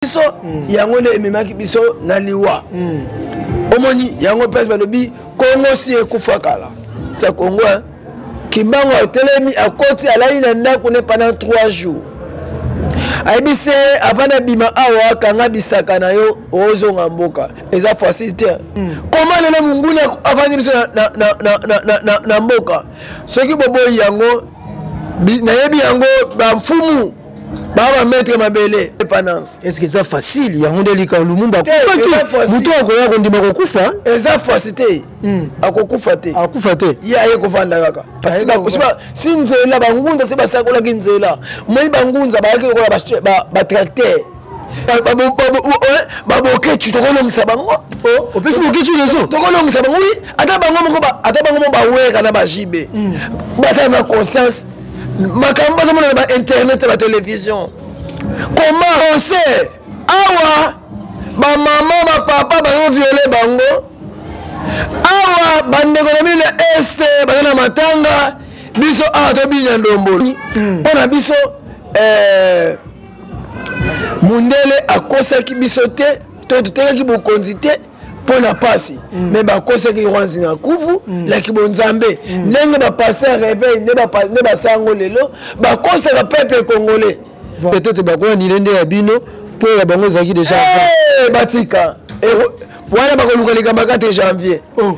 biso mm. yango nde ememaki biso na liwa mm. omoni yango place balobi kongo si ekufa kala tia kongo eh? kimbangu atelemi akoti alali na ndako ne pendant 3 jours ayebi se avanda bima awa akanga bisaka na yo ozonga mboka eza facile te hmm. koma lelo monguna avandi biso na, na, na, na, na, na, na mboka soki boboyi yango nayebi yango bamfumu baba maître mabele epanance est ce que eza facile yango nde lika lumumba akufaki moto akoya kondima kokufa eza fasi te hmm. akokufa te akufa te ye aye kovanda kaka si nzela bangunza se basakolaki nzela moi bangunza bayaki lokola batracteur babokecu tokolongisa bango opesi bokecu lezo tokolongisa bango wi ata bango moko ata bango moko baweka na bajibe baza na conscience makambo bazomona na bainternet ya batelevision koma rose awa bamama bapapa bazoviole bango awa bandeko na bino na este baza na matanga biso awa tobinya ndomboli hmm. mpo na biso eh, mundele akosaki biso te to totekaki bokonzi te mpo na mpasi mm. me bakosaki yoko nzinga kufu mm. na kibonzambe mm. ndenge bapaster reveil nde basango lelo bakosaka pepe congolais peut-être bakoya nile nde ya bino mpo ya bango ezalaki deja eh, batika wana bakoluka likambo kaka te janvier oh.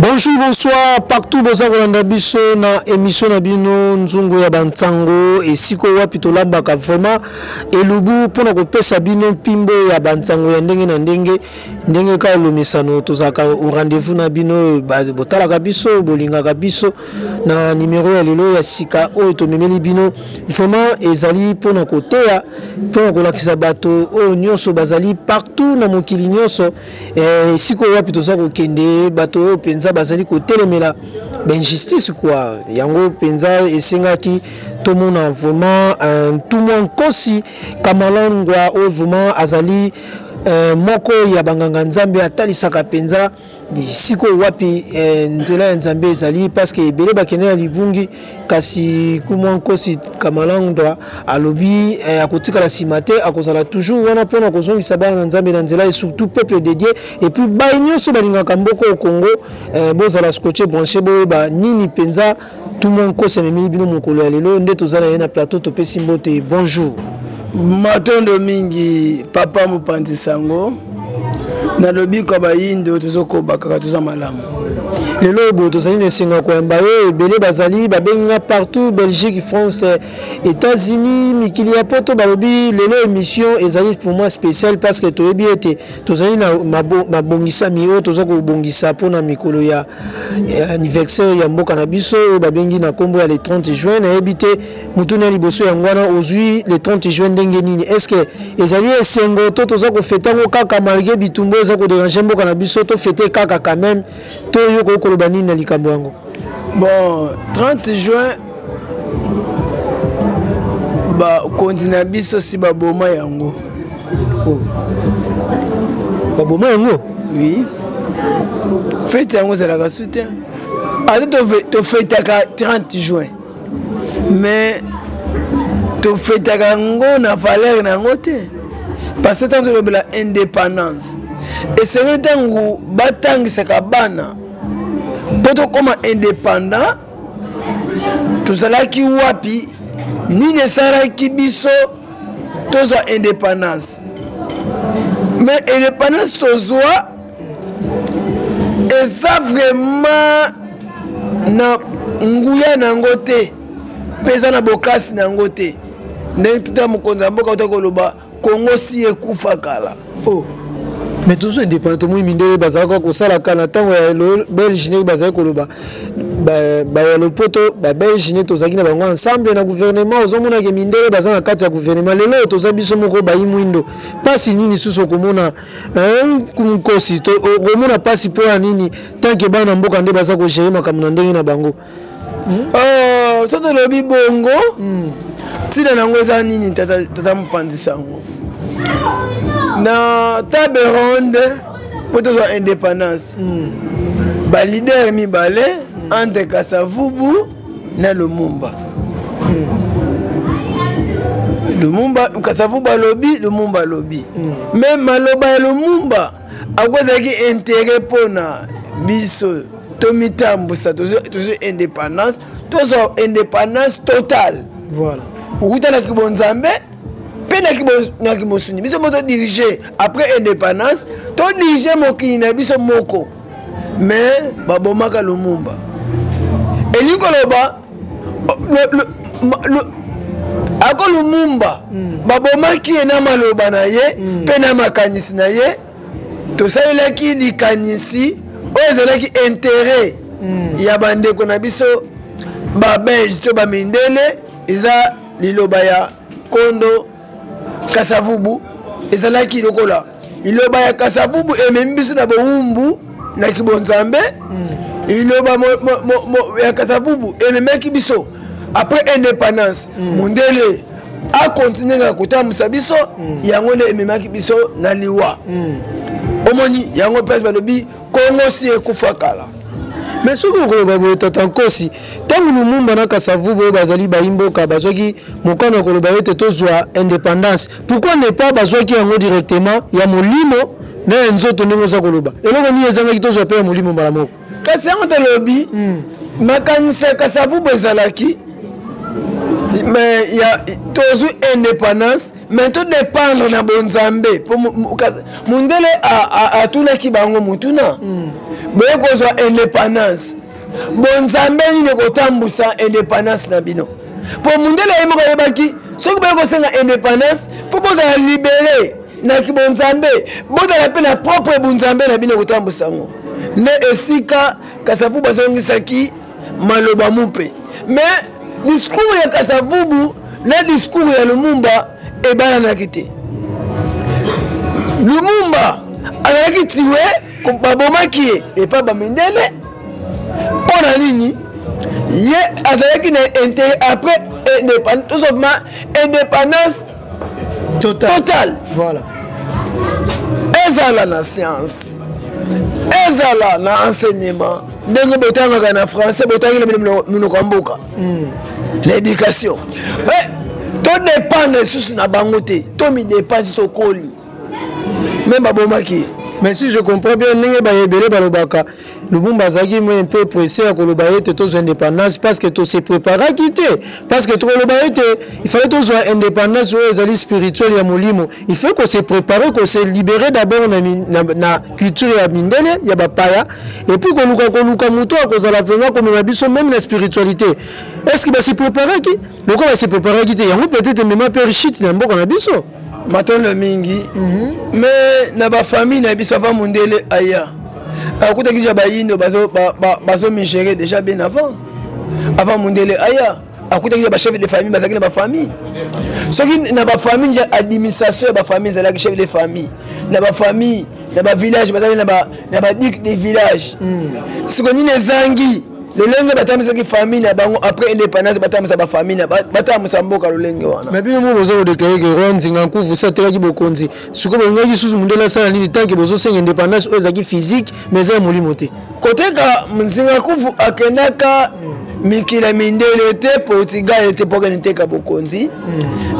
bonjour bonsoir partout boza kolanda biso na émission na bino nzungu ya bansango esika wapi tolambaka vraiment elubu mpona kopesa bino mpimbo ya bansango ya ndenge na ndenge ndenge kaka lomesano tozalaka au rendez-vous na bino botalaka biso bolingaka biso na nimero ya lelo ya sika oyo tomemeli bino vraiment ezali mpona koteya mpona kolakisa bato oyo nyonso bazali partout na mokili nyonso Eh, esika oyo wapi toza kokende bato oyo mpenza bazali kotelemela bainjustice kua yango mpenza esengaki tomona vraiment eh, ntumwa nkosi kamalangwa oyo vraiment azali eh, moko ya banganga nzambe atalisaka mpenza sikoyo wapi eh, nzela ya nzambe ezali parceke ebele bakende na libungi kasi kumwa nkosi kamalangdwa alobi eh, akotikala nsima te akozala toujours wana mpona kozongisa bana na nzambe na nzela et surtout peuple de dieu et puis bai nyonso balingaka mboko au congo eh, bozala scotche branche boyeba nini mpenza tumwa nkosi amemeli bino mokolo ya lelo nde toza na ye na plateau topesi mbote bonjour matondo mingi papa mopanzi sango na lobiko ya bayinde oyo tozokoba kaka toza malamu lelo oyo boye tozali na esengo ya koyamba yo ebele bazali babengi nga partout belgique france états-unis mikili ya poto balobi lelo émission ezali pour moi spéciale parce que toyebi ete tozali na mabongisami oyo toza kobongisa mpona mikolo ya anniversaire ya mboka na biso oyo babengi na nkombo ya le 30 juin nayebi te motuna ya liboso yango wana ozwi le 30 juin ndenge nini est ce que ezali esengo to toza kofete yango kaka malgré bitumba eza koderange mboka na biso tofete kaka quand même to yo koki koloba nini na likambo yango bon 30 juin bakonzi na biso si baboma yango oh. baboma yango oui fete yango ezalaka soutien ata tofetaka 30 juin mais tofetaka yango na valeur na yango te parce que ntango tolobela indépendance esengeli ntango batangisaka bana mpo tokóma indépendant tozalaki wapi nini esalaki biso tozwa indépendance mais indépendance tozwa eza vraiment na nguya na yango te mpe eza na bokasi na yango te ndenge tuta mokonzi ya mboka uta koloba kongo si ekufa kala oh. mais toujours indépendant tomoni mindele bazalaka kosalaka na ntango ya belge ndenge bazali koloba baya lopoto babelge nde tozalaki na bango ensemble na gouvernement ozomonake mindele baza na kati ya gouvernement lelo oyo toza biso moko bayi mwindo mpasi nini susu okomona nkosi okomona mpasi mpo ya nini tanke bana mboka nde baza kogere makambo na ndenge na bango hmm? oh, soki tolobi bongo hmm. ntina na yango eza nini tata mopanzi sango na table ronde mpo tozwa indépendance hmm. balidere mibale entre kasavubu na lumumba lumumba kasavu balobi lumumba alobi me mm. maloba ya lumumba ako ezalaki intere mpona biso tomitambwisa tozwi indépendance tozwa indépendance totale voilà. okutanaki bonzambe mpe na kimosuni biso mo todirige après indépendance todirige mokili na biso moko mais babomaka lumumba elingi koloba ako lumumba mm. babomaki ye na maloba na ye mm. mpe na makanisi na ye tosalelaki likanisi oyo ezalaki intere mm. ya bandeko na biso babelge to bamindele eza liloba ya kondo kasavubu ezalaki lokola liloba ya kasavubu ememi biso na bowumbu na kibonzambe mm. liloba ya kasavubu ememaki biso après indépendance mm. mondele akontinue kaka kotambwisa biso mm. yango nde ememaki biso na liwa omoni yango place balobi kongo si ekufa kala mais soki okoloba boye tata nkosi ntango lumumba na kasavubu oyo bazali bayimboka bazwaki mokano ya koloba ete tozwa indépendance pourquoi ne pas bazwaki yango directement ya molimo na ya nzoto ndenge oza koloba eloko nini ezangaki tozwa mpe ya molimo mbala moko kasi yango tolobi hmm. makanisi ya kasavubu ezalaki tozwi indépendance mais tout dépendre na bonzambe po mundele atunaki bango motuna mm. boye kozwa indépendance bonzambe nini ekotambwisa indépendance na bino po mundele ye moko ayebaki soki boye kosenga indépendance fo bozala libere na kibonzambe bozala mpe na propre bonzambe na bino ekotambwisa yango nde esika kasapu bazongisaki maloba mupe mais discours ya kasavubu na discours ya lumumba ebalanaki te lumumba azalaki tiwe babomaki ye epa bamindele mpo na nini ye azalaki na intérêt après indépendance tozobima indépendance total, total. Voilà. ezala na science ezala na enseignement ndenge botangaka na français botangeli minoko ya mboka hmm. na éducation eh, todépendre lisusu na bango te tomidépendre tokoli meme babomaki ye mais si je comprends bien ndenge baye ebele balobaka lubumba azalaki moi un peu pressé ya koloba ete tozwa indépendance parce que tose préparaki te parce que tokoloba ete il fallait tozwa indépendance oyo ezali spirituel ya molimo il faut kose préparer kose libérer d'abord na, na, na culture ya mindele ya bapaya epuis koluka koluka moto akozala mpenza komema biso meme na spiritualité est ce que base préparaki lokola base préparaki te yango peut-être emema mpe richite na mboka na biso matondo mingi mhm. me na bafamille na biso ava mondele aya akutaki deja bayindo bazomigere deja bien avant avant mondele aya akutaki deja bachef de famille bazalaki na bafamille soki na bafamille deja administration ya bafamille ezalaki chef de famille na bafamille na bavillage bazali na badic de village hmm. siko nini ezangi lolenge batambisaki famille na bango après indépendance batambisa bafamille na batambisa mboka lolenge wana mais bino mo boza kodeklare ke roi nzinga nkufu si atekaki bokonzi sikoyo bolingaki lisusu mondele asala nini tanke bozosenga indépendance oyo ezalaki physique mais eza ya molimo te koteka nzinga nkufu akendaka mikila mindele te portugal te mpo akende teka bokonzi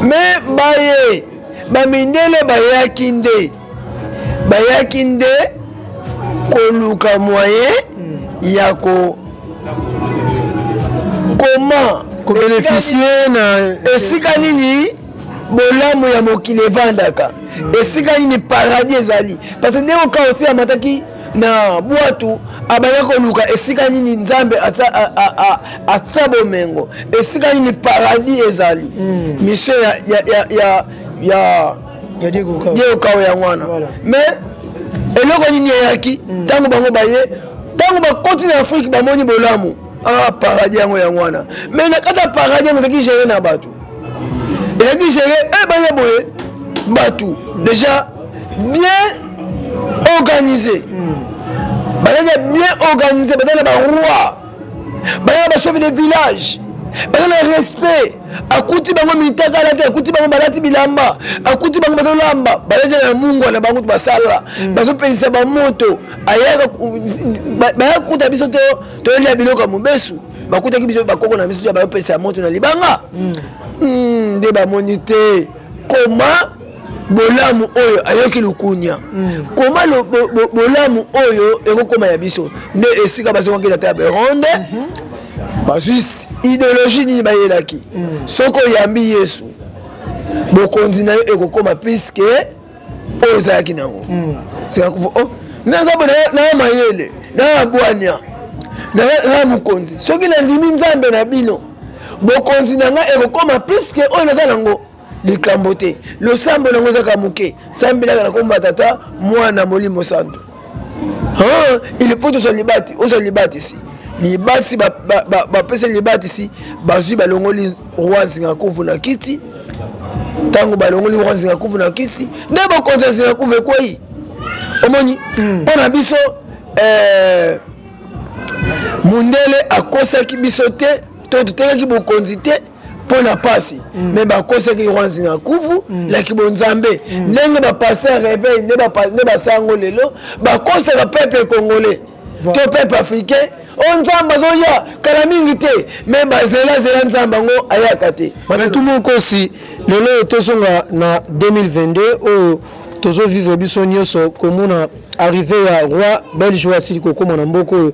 mais baye bamindele bayaki nde bayaki nde koluka moyen ya ko comment kobeneficie na esika nini bolamu ya mokili evandaka esika nini paradis ezali parce que ndenge okaosi amataki na bwatu abaya koluka esika nini nzambe atya bomengo esika nini paradis ezali hmm. mission ya, ya, ya, ya, ya diego kawa yango wana mais eloko nini eyaki hmm. ntango bango baye ntango bakoti na afrike bamoni bolamu ah paradis yango yango wana mais na kati ya paradis yango ezalaki gere na bato ezalaki gere e eh, baya boye bato hmm. déjà bien organisé hmm. bazalaki bien organisé bazali na baroi bazali na bachefe de village bazali na respect akuti bango mitakala te akuti bango balati bilamba akuti bango bazolamba balati na mungwa na bango basala mm. bazopelisa bamoto ayaka baya kuta biso toyelia biloko ya mobesu bakutaki biso bakoko na biso ya bayopelisa ya moto na libanga mm. Mm, nde bamoni te koma bolamu oyo ayoki lukunya mm. koma lo, bo, bo, bolamu oyo ekokoma ya biso nde esika bazongaki na ta ya beronde mm -hmm. bajuste ideologie nini bayelaki mm. soki oyambi yesu bokonzi na yo ekokoma plus ke oyo ozalaki na yango mm. sikakufa oh, naza naya mayele naya bwania naya mokonzi soki nandimi nzambe na bino bokonzi na ngai ekokoma plus ke oyo naza na yango likambo te losambo nango ezaka moke sambelaka na kombo ya tata mwana molimo santu il faut tozwa libati ozwa libatisi libatisi bapesi libatisi bazwi balongoli roi nzingakuvu na kiti ntango balongoli roi nzingakuvu na kiti nde bokonzi ya nzingakuvu ekwei omoni hmm. mpo na biso eh, mundele akosaki biso te to totekaki bokonzi te mpo na mpasi mm. me bakosaki yoko nzinga kufu mm. na kibonzambe mm. ndenge bapaster reveil nde basango lelo bakosaka pepe congolais to pepe africain o nzambe azoya kala mingi te me bazelazela nzambe yango ayaka te matu mokosi lelo oyo tozonga na 2022 oyo tozovivre biso nyonso komona arrive ya roi belge oyo asili kokóma na mboka oyo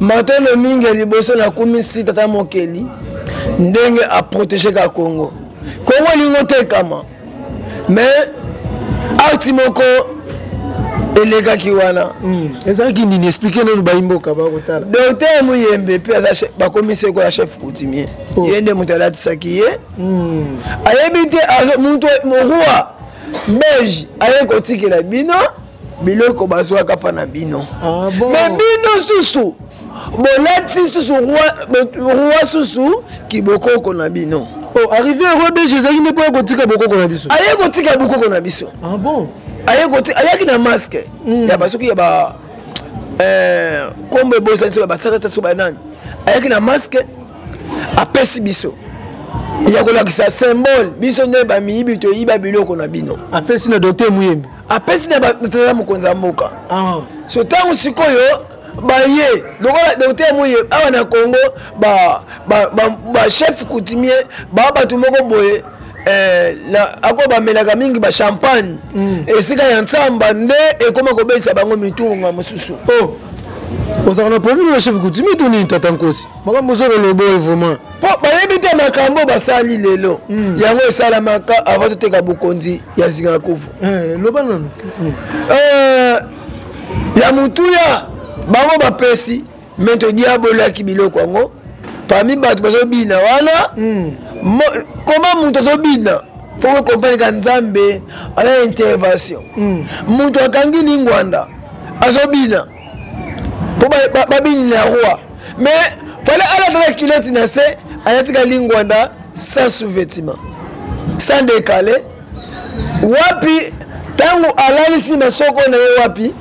matondo mingi ya liboso nakumisi tata mokeli ndenge aprotégeka congo kongo elingi otekama mais arti moko elekaki wana hmm. ezalaki nini explike nanu bayimboka bakotala docteur muyembe mpe bakomisi ekola chef coutumier oh. ye nde moto alatisaki ye hmm. ayebi te moto roi belge aye kotikela bino biloko bazwaka mpa na bino ah, bon. me bino susu bolati susu roi susu kibokoko na bino oh, arrivé roi belge ezalaki nde mpo ya kotika bokoko na biso aye kotika bokoko na biso ah, bon. ayaki na maske mm. ya basoki ya ba eh, kombo ebosani soki basakata soki banani ayaki na maske apesi biso ya kolakisa symbole biso nde bamiyibi toyiba biloko na bino apesi na dote muyembi apesi na batata mokonzi ya mboka ah. so ntango sikoyo baye lokola dote moye awa na congo bachef coutumier baa bato moko boye eh, ako bamelaka mingi bachampagne mm. esika ya nsamba nde ekoma kobelisa bango mitunga mosusu oh. ozalaka na probleme na chef coutumier to nini tata nkosi makambo ozokoloba oyo vraiment mpo bayebi te makambo oyo basali lelo mm. yango esalamaka avant toteka bokonzi ya zingakuvu eh, loba nanu mm. eh, ya motuya bango bapesi me todiabolaki biloko yango parmi bato bazobina wana mm. koma moto azobina mpo kokompaneka nzambe ana intervention moto akangi lingwanda azobina mpo babinila roi mais fale alataka kiloti na se ayatika lingwanda sans sous-vêtement sans décalé wapi ntango alalisi masoko na ye wapi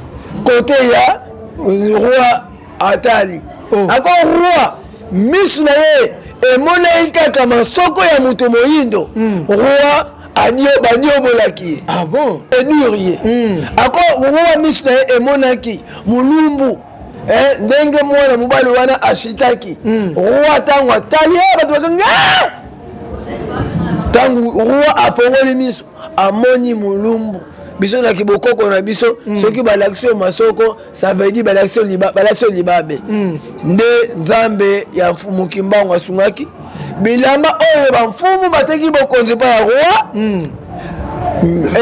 kote ya roi atali oh. ako roi misu na ye emonaki kaka masoko ya moto moyindo mm. roi baniobolaki ye ah edure ye hmm. ako wa miso na ye emonaki molumbu eh, ndenge mwana mobali wana asitaki hmm. roi ntango atali ye eh, bato bakangi ah! ntango roi afongoli miso amoni molumbu biso na kibokoko na biso hmm. soki balakisi yo masoko ça veut dire balakisi yo libabe hmm. nde nzambe ya mfumu kimbangu asungaki bilamba oyo bamfumu bateki bokonzi mpo ya roi hmm.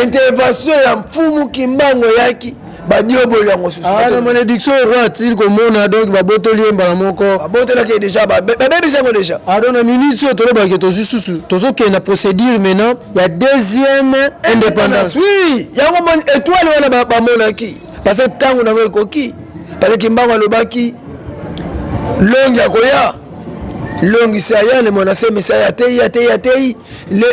intervention ya mfumu kimbangu eyaki badioboli yango susumalédiction ah, roi atili komona donc babotoli ye mbala moko babotolaki ye déjà babebisi yango déjà ado ah, na minute oyo tolobaki tozwi susu tozokende na procédure maintenant ya deuxième indépendance oui yango étoile wana bamonaki parce que ntango nango ekoki parce que kimbangu alobaki longi akoya longi se aya ne mwana semi se aya teyi ateyi ateyi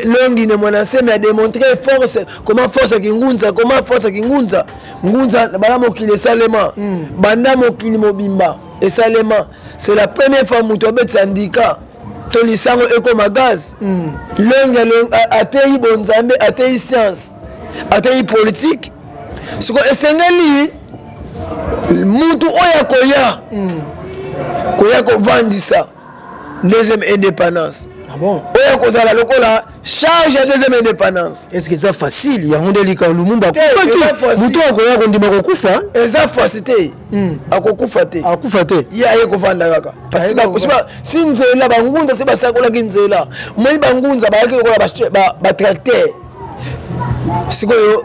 longi ne mwana semi ademontre force comment force ya kingunza comment force ya kingunza ngunza banda mokili esalema hmm. banda mokili mobimba esalema c'est la première fois moto abetisa ndika to lisango ekoma gaz hmm. longi ateyi bonzambe ateyi science ateyi politike siko esengeli mutu oyo akoya mm. koya kovandisa deuxième indépendance ah bon? oyo akozala lokola charge ya deuxième indépendance est ce que eza facile yango nde lika lumumba akufaki moto akoya kondima kokufa eza fasi te hmm. akokufa te akufa te ye aye kovanda kaka si nzela bangunza se basakolaki nzela moi bangunza bayaki lokola batracteur sikoyo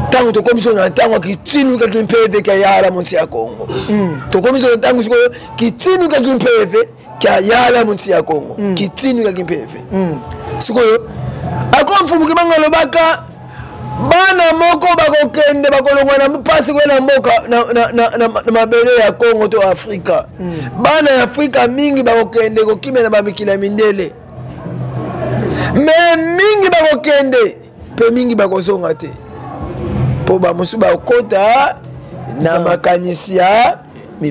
ntango tokomi so na ntango ya kitinukaki mpeve kya yala monti ya kongo hmm. tokomi so na ntango sikoyo kitinukaki mpeve kya yala monti ya kongo hmm. kitinukaki mpeve hmm. sikoyo akomfumuki bango alobaka bana moko bakokende bakolongwa na mpasi koye na mboka na mabele ya congo to afrika hmm. bana ya afrika mingi bakokende kokimela bamikili ya mindele me mingi bakokende mpe mingi bakozonga te mpo bamosusu bakota na makanisi ya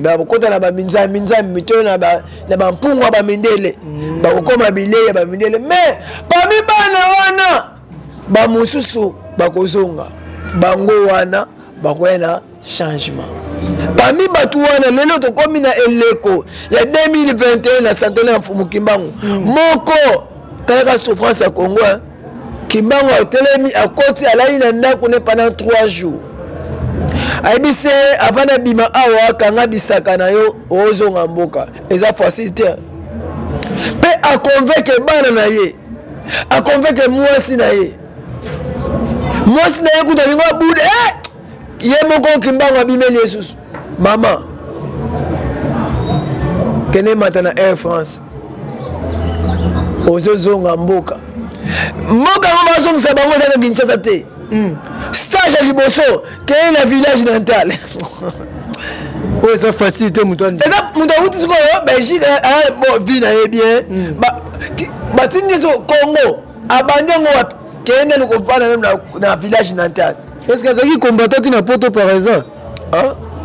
bakokota na baminzambi nzambi to na bampungwa bamindele mm. bakokoma bilei ya bamindele mais pami bana wana bamosusu bakozonga bango wana bakoya na changement parmi bato wana lelo tokomi na eleko ya 2021 na centenaire ya mfumu kimbangu mm. moko talaka souffrance ya congo eh? kimbangu atelemi akoti alali na ndako ne pendant 3 jours ayebi se avant nabima awa akanga bisaka na yo ozonga mboka eza facile te mpe aconvainke bana na ye akonveke mwasi na ye mwasi na ye kutu alingi abuda eh! ye moko kimbangu abimeli ye susu mama kende mata na air france ozozonga mboka mboka yango bazongisa bango ezaka kinshasa te hmm. stage ya liboso keila village natal oyo eza facile te moto eza moto awuti sikoyo belgique eh, eh, bo vie na ye bien hmm. batindi so congo abandi yango wapi keye nani kovanda na village natal est ce que azalaki combattant ti na poto par exemple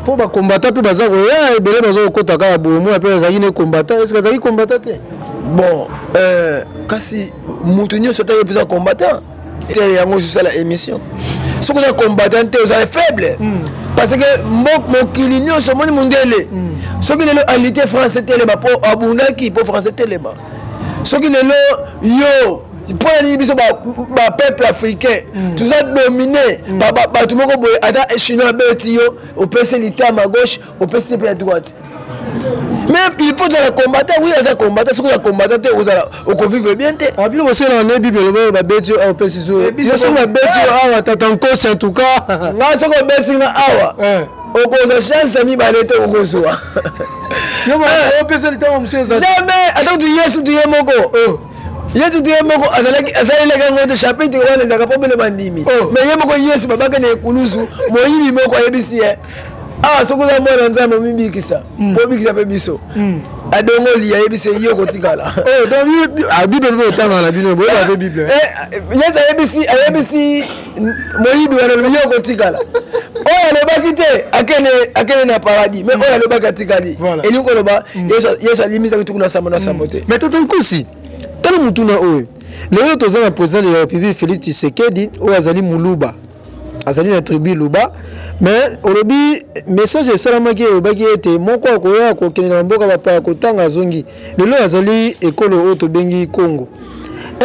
mpo bakombata mpe baza koya ebele baza kokota kaka bomo mpe azalaki ne kombata eske azalaki kombata te bon euh, kasi moto nyonso ataki mpenza combattant te yango ozosala émission soki oza combattant te oza faible hmm. parce que mokili nyonso omoni mondele hmm. soki lelo alite français telema mpo abundaki mpo français telema soki lelo yo mpo na nini biso bapeuple africain hmm. toza domine bato moko boye ata chinois abeti yo opesi litama gauche opesi mpe ya droite mais il faut ozala combattant oui aza combattant soki oza combattant te ozala okovivre bien te ah, bino bosenaa ne bible lobo babeti yo awa opesi so eh, yo soki babeti yo awa tata nkosi en tout cas ngai soki obeti nga awa eh. okozwa chance ya mibale te okozwa jamais ata kutu yesu tuye moko oh. yesu te ye moko asalelaki yango te chapitre wana ezalaka mpo bino bandimi oh. mais ye moko yesu babakende ekulusu moyibi moko ayebisi ye awa ah, soki oza mwana nzambe omibikisa mm. obikisa mpe biso mm. adongoli ayebisi ye okotikala oh, ah, bible mpe otangaka na bino boyeba mpe bible eh, eh, yesu ayebisi ayebisi moyibi wana lobi ye okotikala oyo alobaki te akende na paradis mais mm. oyo alobaki atikali elingi koloba yesu alimisaki tuku na sambo na sambo te mais toto nkusi tala motuna oyo lelo toza na président de la république félix tshisekedi oyo azali moluba azali na tribu luba mais olobi message esalamaki elobaki ete moko akoya kokende na mboka bapaya kotanga azongi lelo azali ekolo oyo tobengi congo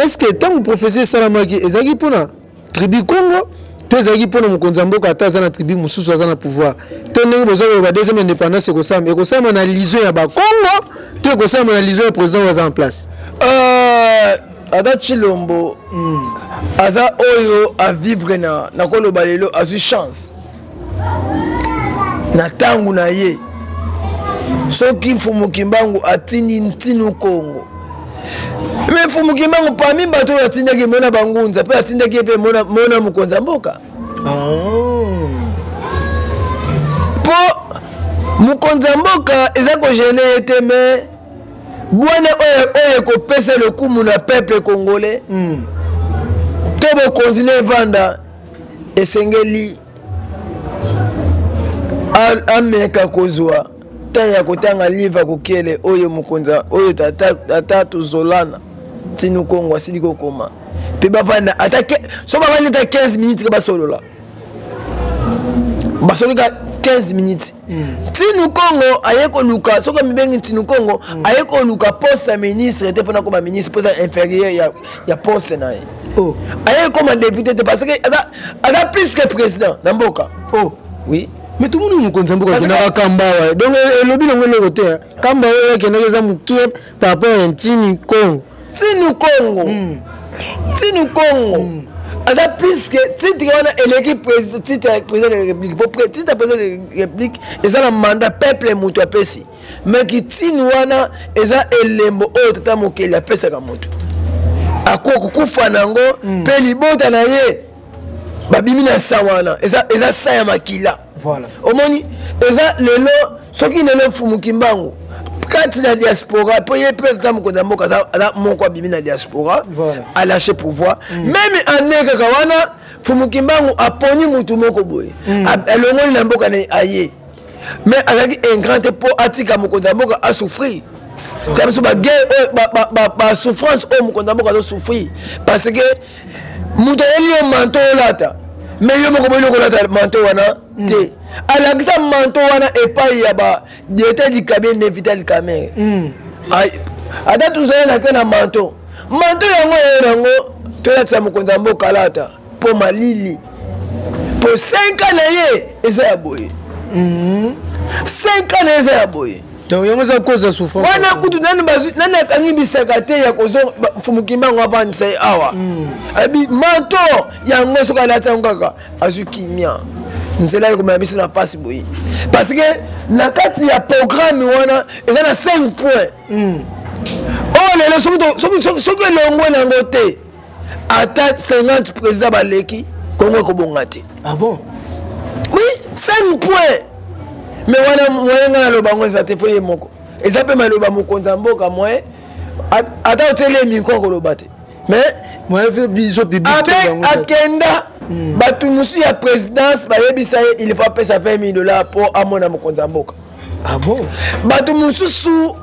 est ce que ntango prophesie esalamaki ezalaki mpona tribu congo to ezalaki mpo na mokonzi ya mboka ata aza na tribu mosusu aza na pouvoir to ndenge boza koloba deuxième indépendance ekosalama ekosalama na lision ya bakongo to ekosalama na lision ya président oyo aza en place euh, ata chilombo mm. aza oyo avivre na nakoloba lelo azwi chance na ntango na ye soki mfumu kimbangu atindi ntinu kongo me mfumu kimbangu pami bato oyo atindaki mona bangunza mpe atindaki ye mpe mona, mona mokonzi ya mboka oh. mpo mokonzi ya mboka eza kogene ye te me bwale oyo oyo ekopesa lokumu na peuple congolais mm. to bokonzi na evanda esengeli ameka kozwa ntango ya kotanga livre ya kokele oyo mokonzi oyo tata tozolana ntinukongo asili kokoma mpe bavanda ata so bavandi ata 15 minutes ke basolola basolika 15 minutes ntinu hmm. kongo aye koluka soki amibengi ntinu kongo hmm. aye koluka poste ya ministre te mpona koma ministre mpo eza inférieur ya, ya poste na ye oh. aye koma député te parce que aza, aza plus que président na mboka oh. oui me tomoni mokonzi ya mboka akendaka kamba awa donc elobi nango eloko te kamba oyo akendaki eza mokie papa ya ntini kongo ntini kongo mm. ntini kongo mm. aza plus que titre wana eleki titre ya président de la république po titre ya président de la république eza na mandat peuple moto apesi mais kitini wana eza elembo oyo tata mokeli apesaka moto akoki kokufa na yango mpe hmm. libota na ye babimi na nsa wana eza, eza sa ya makila voilà. omoni eza lelo soki lelo mfumu kimbangu kati na diaspora mpo ye mpe ata mokonzi ya mboka aza moko abimi na diaspora voilà. alache pouvoir mm. meme ane kaka wana mfumu kimbangu aponi motu moko boye mm. alongoli na mboka na aye mais azalaki ingrat te mpo atika mokonzi ya mboka asouffrir ta biso bagere oyo basouffrance oyo mokonzi ya mboka azosouffrir parce que moto ayeli yo manto olata me yo moko boyeli okolata manto wana hmm. te alakisa manto wana epai ya ba directeur du cabinet ne vital kamere hmm. ata tozali na ke na manto manto yango eye nango tolatisa mokonzi ya mboka alata mpo malili mpo 5 ans na ye eza ya boye 5 hmm. ans na ye eza ya boye to yango eza koza souffrance wana kutu nani bazwi nani akangi bisaka te ya kozo mfumukimba yango abandisa ye awa hmm. abi manto yango soki alati yango kaka azwi kimia nzela ekomela biso na mpasi boye parce que na kati ya programme wana eza na 5 point hmm. oyo oh, lelo soki elongwe na yango te ata 50 président baleki kongo ekobonga te ah bon oui 5 point me wana moyen ngai naloba yango eza te fo ye moko eza mpe maloba mokonzi ya mboka moyen ata oteli ye mikro akoloba te mais akenda hmm. bato mosusu ya présidence bayebisa ye il faut apesa 20 000 dollars mpo amona mokonzi ya mboka ah bato mosusu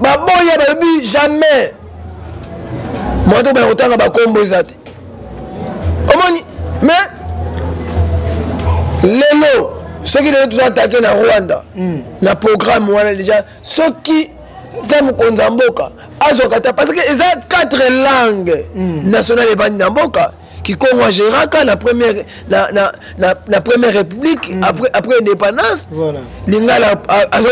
baboya balobi jamais moto kobana kotanga bakombo eza te omoni mais lelo soki lelo toza atake na rwanda mm. na programme wana deja soki ta mokonzi ya mboka azwaka ta parce que eza quatre langue mm. nationale evandi na mboka kikongo ageraka na première na, na, na, na première république mm. après, après indépendance voilà. lingala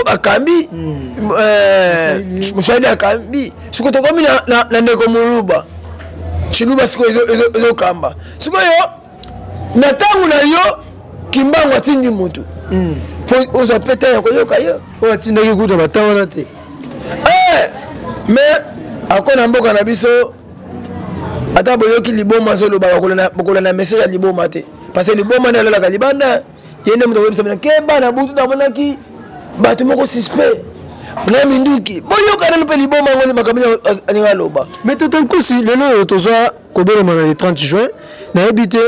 akambi mm. euh, mosaleli akambi siko tokomi na, na, na ndeko moluba ciluba siko ezokamba sikoyo na ntango na yo kimbangu atindi motu mm. ozwa mpe ntango ya koyoka yo oyo atindaki kuta bata wana te eh, mais akona mboka na biso ata boyoki liboma azolobaka kolanda message ya liboma te parce que liboma nde alalaka libanda ye nde moto akoyebisa bino keba na butu namonaki bato moko suspect na minduki boyoka nanu mpe liboma yango nde makambo alinga aloba mais tata nkusi lelo oyo tozwa kobelema na le 30 juin nayebi te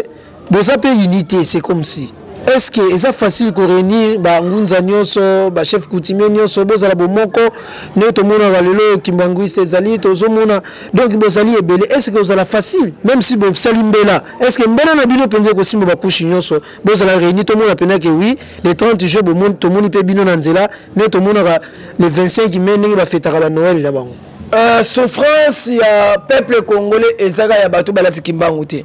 boza pe unité c'est comme si est ce que eza facile ko réunir ba ngunza nioso ba chef coutumier nioso bozala bomoko nde tomonaka lelo kimbanguiste ezali tozomona donc bozali ebele est ce que ozala facile même si bosali mbela est ce que mbela na bino mpenza ekosimba bakushi nioso bozala réunir tomona mpena ke oui le 30 juin tomoni mpe bino na nzela nde tomonaka le 25 mai ndenge bafetaka ba noel na bango Euh, souffrance ya peuple congolais ezaka ya bato balati kimbangu te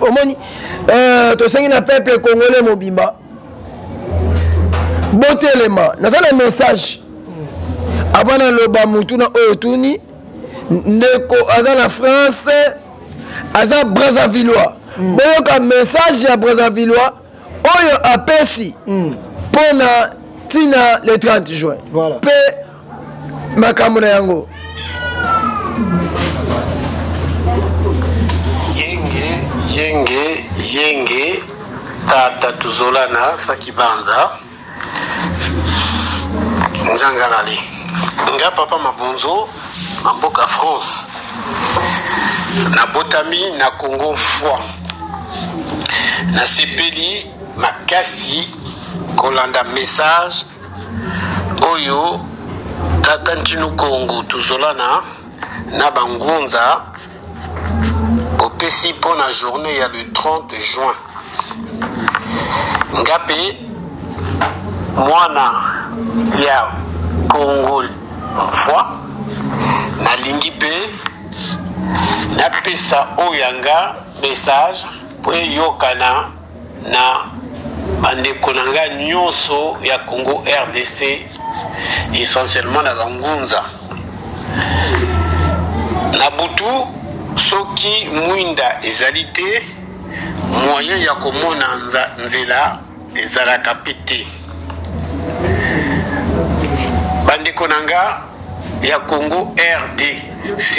omoni euh, tosengi na peuple congolais mobimba botelema naza na message avant naloba motu na oyo tuni ndeko aza na france aza brazzavillois mm. boyoka message ya brazzavillois oyo apesi mm. mpo na ntina le 30 juin voilà. mpe makambo na yango yenge yenge yenge tata tuzolana sakibanza nzanga lali nga papa mabonzo na mboka france nabotami na congo foi nasepeli makasi kolanda message oyo tata ntinu kongo tozolana na bangunza opesi mpo na journée ya le 30 juin nga mpe mwana ya congo mvoi nalingi mpe napesa oyo yanga message mpo eyokana na bandeko na ngai nyonso ya congo rdc essentiellement na bangunza na butu soki mwinda ezali te moyen ya komona nzela ezalaka mpe te bandeko na nga ya Congo RDC,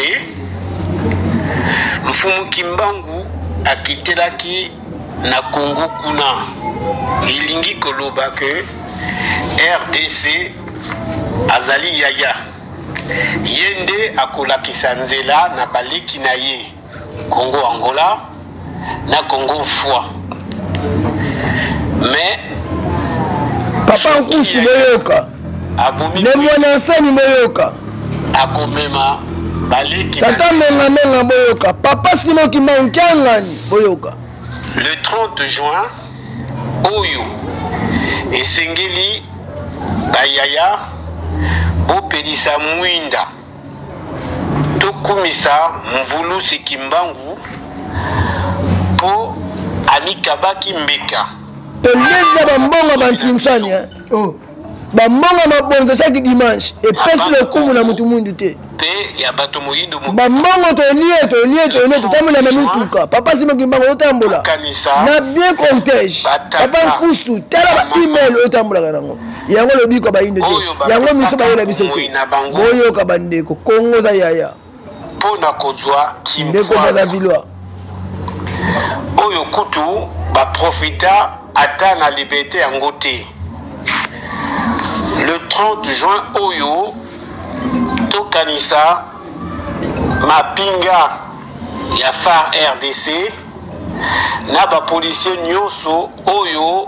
Mfumu Kimbangu akitelaki na Congo kuna, elingi koloba que rdc azali yaya ye nde akolakisa nzela na baleki na ye Congo Angola na Congo foi mais papa nkusu boyoka ne mwana nsani boyoka akomema baleki tata mengamenga boyoka papa simo kimbangu kiangani boyoka le 30 juin oyo esengeli bayaya bopelisa mwinda tokumisa mvuluzi kimbangu mpo amikabaki mbeka pembeni ya bambongo ya bantinsani eh? oh. bambongo ya mabonza chaque dimanche epesi lokumu na motu mwindu te bambongo tolie tolie tolie totambola na mituka papa simo kimbango otambola na bien cortège papa nkusu tala ba email otambolaka nango yango lobiko ya bayindo te yango miso bayela biso te boyoka bandeko kongo oza yaya mpo na kozwa ndeko baza vilois oyo kutu baprofita ata na liberte yango te le 30 juin oyo tokanisa mapinga ya far rdc na bapolisier nyonso oyo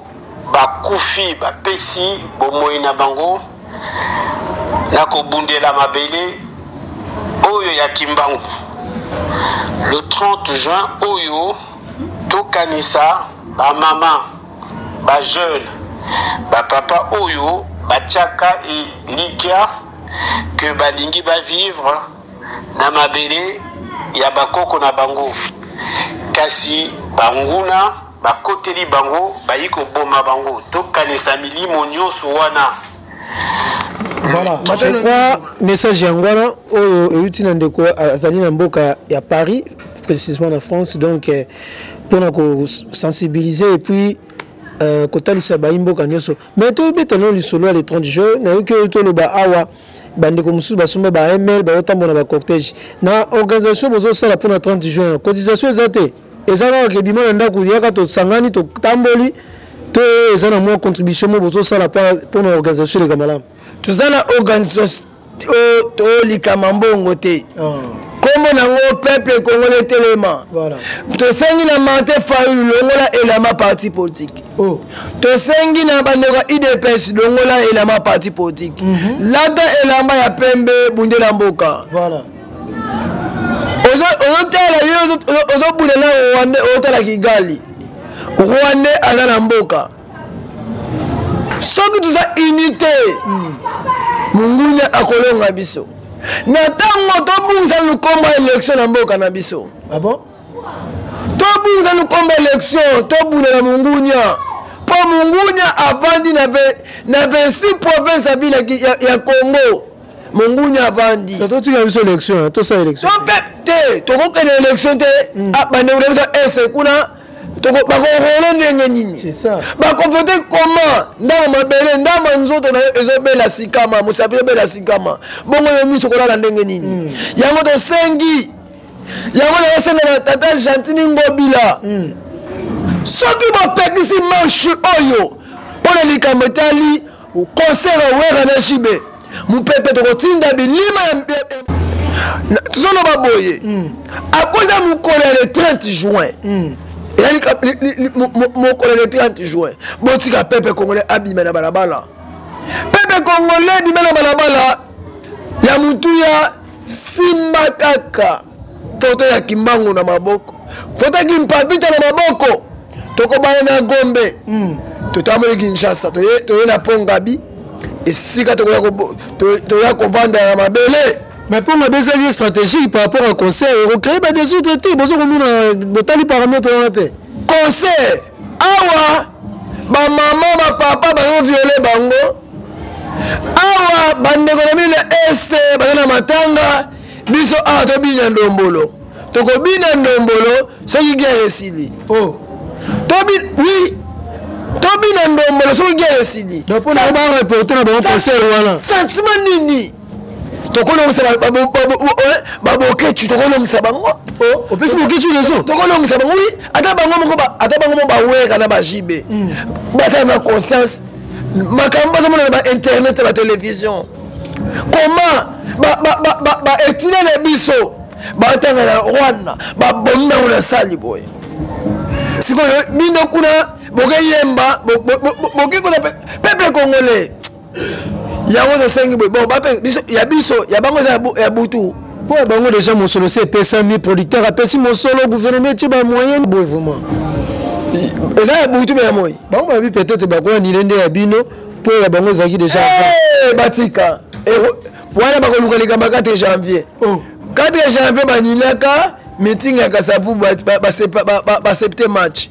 Bakufi bapesi bomoi na bango na kobundela mabele oyo ya Kimbangu. Le 30 juin oyo tokanisa ba mama, ba jeune, ba papa oyo batiaka elikya que balingi ba vivre na mabele ya bakoko na bango kasi banguna Bakoteli bango, bayi koboma bango. Tokanisa milimo nyonso wana. Voilà, je crois message yango wana oyo euti na ndeko azali na mboka ya Paris précisément na France donc eh, mpona kosensibiliser et puis euh, kotalisa bayi mboka nyonso mais tobeta no lisolo ya le 30 juin nayoki oyo toloba awa bandeko mosusu basomba ba ml baotambola na bacortège na organisation bozosala mpona 30 juin cotisation eza te eza kaka ke bima na ndako yaka tosangani totamboli to eza na mwa contribution mo bozosala mpo na organisation eleka malamu toza na organisation tolikama mbongo te nkombo ah. nango peuple congolais etelema tosengi na marte fayulu longola elama parti politique oh. tosengi na bandeko ya udps longola elama parti politique mhm. lata elamba ya pembe bundela mboka ozotala yo ozobunda na rwande ozotala kigali rwande aza na mboka soki toza unité hmm. mongunia akolonga biso na ntango tobungisa lukomba elektio na mboka na biso ah tobungisa lukomba elektio tobundela mongunia mpo mongunia avandi na 26 province ya, ya, ya congo mongunya avandi totika biso élection tosala élection to peuple te tokokende élection te hmm. ah, bandeko na biso este kuna bakorole ndenge nini bakovote koma ndama mabele ndama nzoto na yo ezobela sikama mosapi ezobela sikama bongo yo miso kolala ndenge nini hmm. yango tosengi yango nayosenga tata gentini ngobila hmm. soki bopekisi marche oyo mpo na likambo etali concert ya wera na jb mopepe tokotinda bilima tozoloba boye hmm. akoza mokolo ya le 30 juin hmm. eyali mokolo ya le 30 juin botika pepe congolais abima na balabala pepe congolais abima na balabala ya motuya simba kaka foto ya kimbangu na maboko foto ya kimpapita na maboko tokobana na gombe mm. totamboli kinshasa toye, toye na pont gabi esika tokoya toya kovanda na mabele mais mpo ngabi ezali ye stratégique par rapport à concert ekocree badesordre te boza komona botali parametre wana te concert awa bamama bapapa bazoviole bango awa bandeko na bino na este baza na matanga biso awa tobina ndombolo tokobina ndombolo soki guerre esili oh. tobi oui tobina ndombolo soki guerre esili mpo na ba reporte na bango concert wana sentiment nini tokolongisa babokecu tokolongisa bango opesi bokecu leso tokolongisa bango wi ata bango moko ata bango moko bawera na bajibe hmm. bazala na conscience makambo bazomonana ba internet ba télévision comment ba ba ba ba, ba etinele biso batanga na rwanda babomi bango na sali boye sikoyo bino kuna bokeyemba bokekona pepe congolais yango tosengi boye bon ya biso ya bango eza ya butu mpo ya bango deja mosolo se epesami producteur apesi mosolo gouvernement etie bamoyen boye vraiment eza ya butu me ya moi bango babi peut-être bakola nile nde ya bino po ya bango ezalaki deja eh, batika wana bakoluka likambo ya 4 janvier 4 oh. janvier banilaka meeting ya kasavu basepte match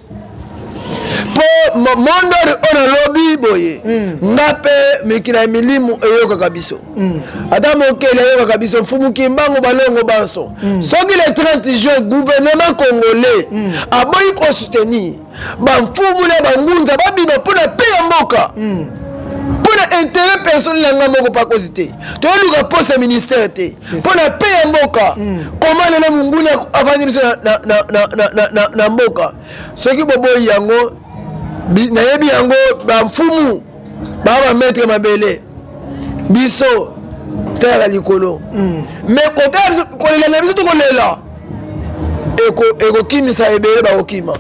po mondori oyo nalobi boye hmm. nga mpe mikila ya milimu eyokaka biso hmm. ata mokeli ayokaka biso mfumu kimbangu balongo banso hmm. soki le 30 juin gouvernement congolais aboyi kosoutenir bamfumu na bangunza babima mpo na pe ya mboka mm. mpo na intérêt personnel ya ngai moko pakosi te toyeluka poste ya ministère te mpo na pe ya mboka mm. koma lelo monguna avandi biso na mboka soki boboyi yango nayebi yango bamfumu baa bametre mabele biso terre ya likolo mm. me kotala kolela na biso tokolela ekokimisa eko ebele bakokima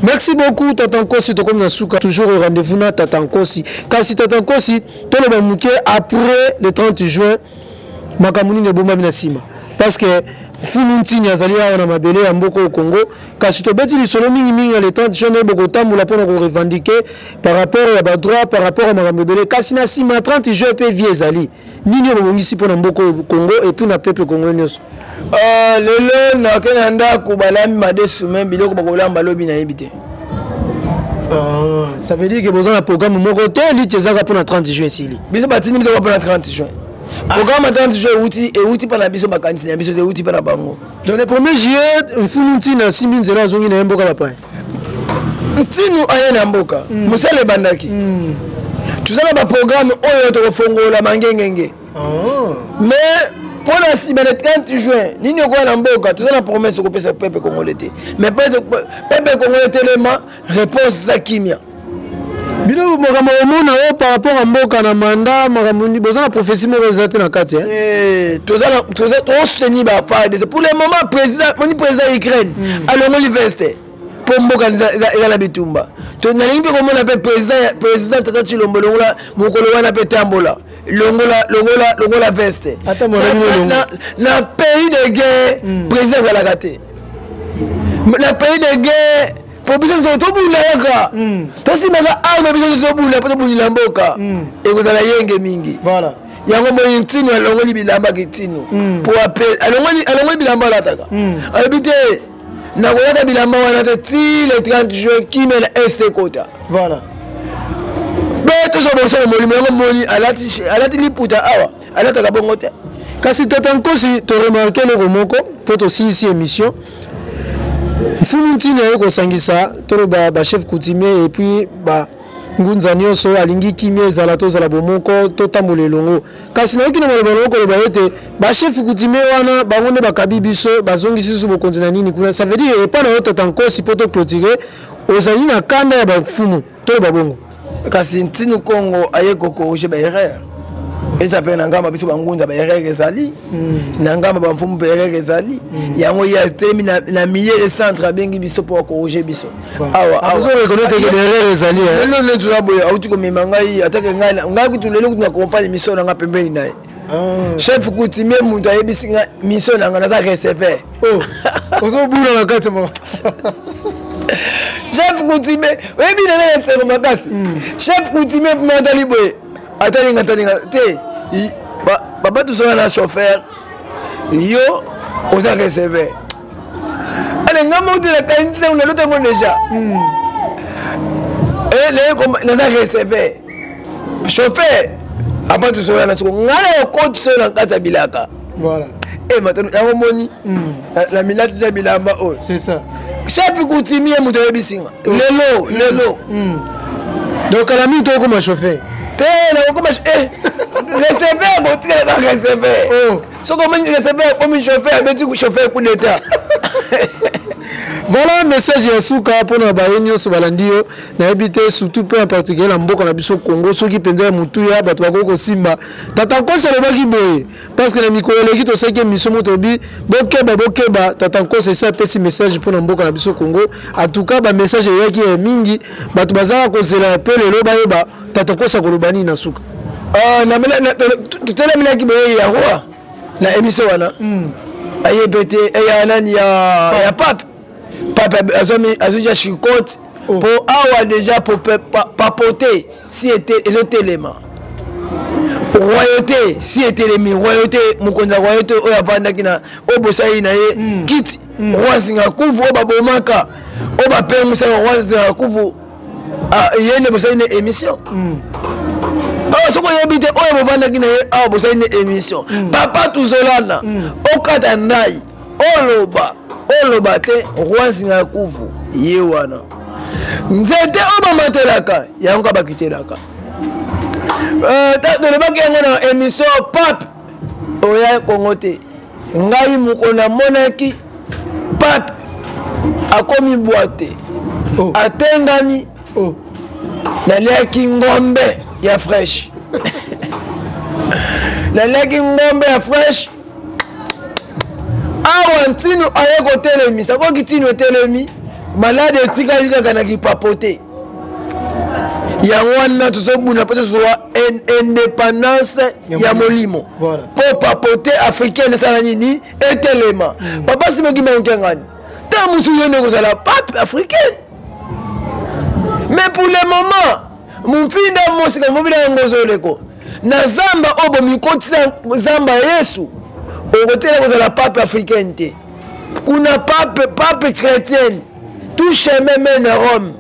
merci beaucoup tata nkosi tokomi na suka toujours au rendez-vous na tata nkosi kasi tata nkosi toloba moke après le 30 juin makambo nini ebombami na nsima parce que fulu ntini azali awa na mabele ya mboka oyo congo kasi tobeti lisolo mingimingi na le 30 juin naye bokotambola mpo na korevendike par rapport ya badroit par rapport ya makambo ebele kasi na nsima 30 juin mpe vie ezali nini oyo bobongisi mpo na mboka oyo congo epuis na peuple congo nyonso euh, lelo nake na ndako balambi madesu me biloko bakolamba lobi nayebi te euh, ça veut dire que boza na programme moko te liti ezaka mpo na 30 juin esili biso batindi biso mpo na 30 juin programme atanga toujours euti euti mpa na biso makanisi na biso te euti mpa na bango donc le premier juillet mfulu ntina asimbi nzela azongi na ye mboka bapaya ntinu aye na mboka mm. mosala ebandaki mm. toza na baprogramme oyo tokofongola mangengenge oh. mais mpo na nsima le 30 juin nini okoya na mboka toza na promese kopesa pepe kongole te mais pepe kongole telema réponse eza kimia bino makambo omona oyo par rapport ya mboka na manda makambo boza na prophétie moko eza te na kati eh, tozosoutenir bafardc pour le moment président moni président ya ukraine hmm. alongoli veste mpo mboka eza na bitumba nalingi mpe komona mpe président tata cilombo longola mokolo wana mpe tambola longola longola longola veste na pays de guerre hmm. président azalaka te na pays de guerre po biso nyonso tobunda kaka hmm. tosimaka arme biso nyonso tobunda po tobundela mboka hmm. ekozala yenge mingi voilà yango moi ntino alongoli bilamba kitino hmm. po alongoli bilamba alataka alobi te nakolata bilamba wana te ti le 30 juin kimela este kota voilà mpe tozwa bonso na molimo yango moni alati liputa awa alataka bongo te kasi tata nkosi toremarke eloko moko mpo tosilisi émission mfumu ntina ye kosangisa toloba bachef coutumier epuis ba ngunza nyonso alingi kimia ezala tozala bomoko totambola elongo kasi nayoki na maloba nango koloba ete bachef coutumier wana bango nde bakabi biso bazongisi biso bokonzi na nini kuna ça veut dire epai na yo tata nkosi mpo toclotire ozali na kanda ya bamfumu toloba bongo kasi ntinu kongo aye kokorige baerreur eza mpe na ngamba biso bangunza baerreur ezali mm. na ngamba bamfumu mpe erreur ezali mm. yango ye atelemi na milieu de centre abengi biso mpo akorige biso awaawalelo ah, netoza boye auti komema ngai atake ngai kutu lelo kutu na compagne misolo na ngai pembeni na ye Ah. chef coutumier moto ayebisi nga mission na nga naza receveur oh. ozobula na kati ma chef coutumier oyebi naza na esengo makasi hmm. chef coutumier mpo atali boye atalinga atalinga te babatusola na chauffeur yo oza receveur ale nga moko te nakanisi ntango naloti yango deja hmm. eh, naza receveur chauffeur apa tosola na soko nga na yokoti soyo na kati ya bilaka eh, matano yango omoni hmm. na milati na bilamba oyo chapi kutimie moto ayebisi nga hmm. lelo lelo donc kala mingi tokokoma chauffeur te nakokoma eh, receveur botikala ba receveur oh. soki omiresepele akomi chauffeur abeti chauffeur coup d'état voilà message ya suka mpona baye nyonso balandi yo nayebi te surtout mpe en particulier na mboka na biso congo soki mpenza ya motuya bato bakoki kosimba tata nkosi alobaki boye parce que na mikolo eleki tosalaki emission moko tobi bokeba bokeba tata nkosi esi apesi message mpona mboka na biso congo en tout cas bamessage eyaki ya mingi bato bazalaka kozela mpe lelo bayeba tata kosa koloba nini na suka ah, totelemelaki boye ya roi na émission wana hmm. aye mpe te eh, ya nani ya pape pape azwi ja chicote oh. mpo awa déjà papote si ezotelema royauté si etelemi royauté mokonzi ya royauté oyo avandaki na oyo bosali na ye hmm. kiti hmm. roi zingakuvu oyo babomaka oyo bapengisaka roi zingakuvu ah, ye nde bosali na émission mm. awa soki oyebi te oyo bovandaki na ye awa bosali na émission mm. papa tuzolana mm. okata ndai oloba oloba te roi nzinga ya kuvu ye wana nzete oyo bamatelaka yango ka bakitelaka euh, tolobaki yango na émission pape oya kongo te ngai moko namonaki pape akomi bwate oh. atengami oh. naliaki ngombe ya fresh naliaki ngombe ya fresh awa ntino aye kotelemisa koki ntino etelemi malade etikali kaka na kipapo te yango wana tozobuna mpe tozwa indépendance ya molimo mpo papote africaine esala nini etelema mm. papa simoki maonkengani ta mosusu yo nde kozala pape africaine mais pour le moment mompinda mosika mobila yango ozoleko na zamba oyo bomikotisa zamba ya yesu okotela kozala pape africaine te kuna pape pape chrétienne tout chemin mène à rome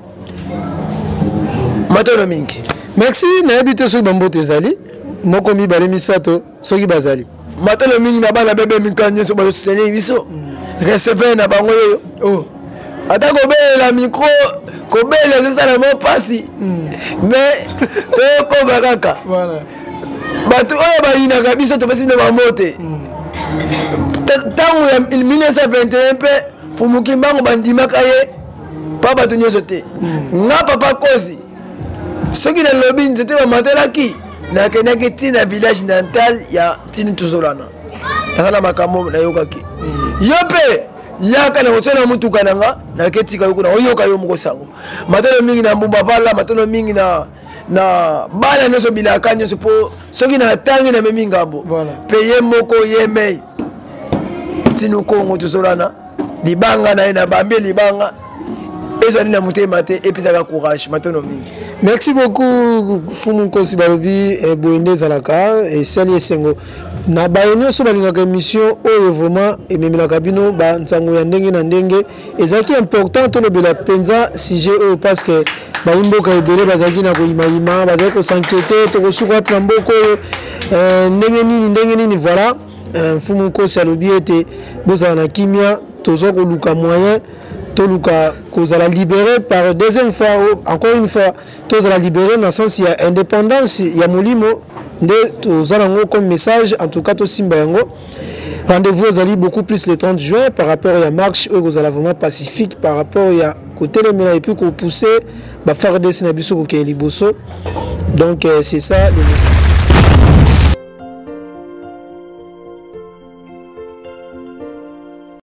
matono mingi merci nayebi te soki bamboto ezali moko mibale misato soki bazali matalo mingi na bana bebe mikano nyonso bazosutenir biso receveur na bango yeyo oh. ata kobelela mikro kobelela ezosala mwa mpasi hmm. mais tokoba kaka bato oyo bayinaka biso topesi bino bambote ntango hmm. ya 1921 mpe fumu kimbangu bandimaka ye mpa bato nyonso te mm. nga papa kozi soki nalobi nzete bamatelaki nakendaki ntina village natal ya ntini tozolana naza na makambo nayokaki mm. yo mpe yaka na kotya na motuka na nga naketika yo kuna oyoka yo moko sango matalo mingi na mbumba vala matalo mingi na na bana nyonso bilaka nyonso mpo soki na tangi na memi ngambo mpe ye moko ye mei tino kongo tozolana libanga na ye na bambi libanga ezali na motema te epesaka courage matono mingi merci beaucoup fumu nkosi balobi eh, boye nde ezalaka esali eh, esengo na baye nyonso balingaka émission oyo vraiment ememelaka bino bansango ya ndenge na ndenge ezalaki important tolobela mpenza sujet oyo parce que bayimboka ebele bazalaki na koyimayima bazalaki kosankete tokosuka wapi na mboka oyo euh, ndenge nini ndenge nini voilà euh, mfumu nkosi alobi ete bozala na kimia tozwa koluka moyen toluka kozala libéré par deuxième fois oh, encore une fois tozala libéré na sens ya indépendance ya molimo nde toza nango comme message en tout cas tosimba yango Rendez-vous ezali beaucoup plus le 30 juin par rapport ya marche oyo ekozala vraiment pacifique par rapport ya kotelemela epuis kopousse bafardc na biso kokende liboso donc euh, c'est ça le message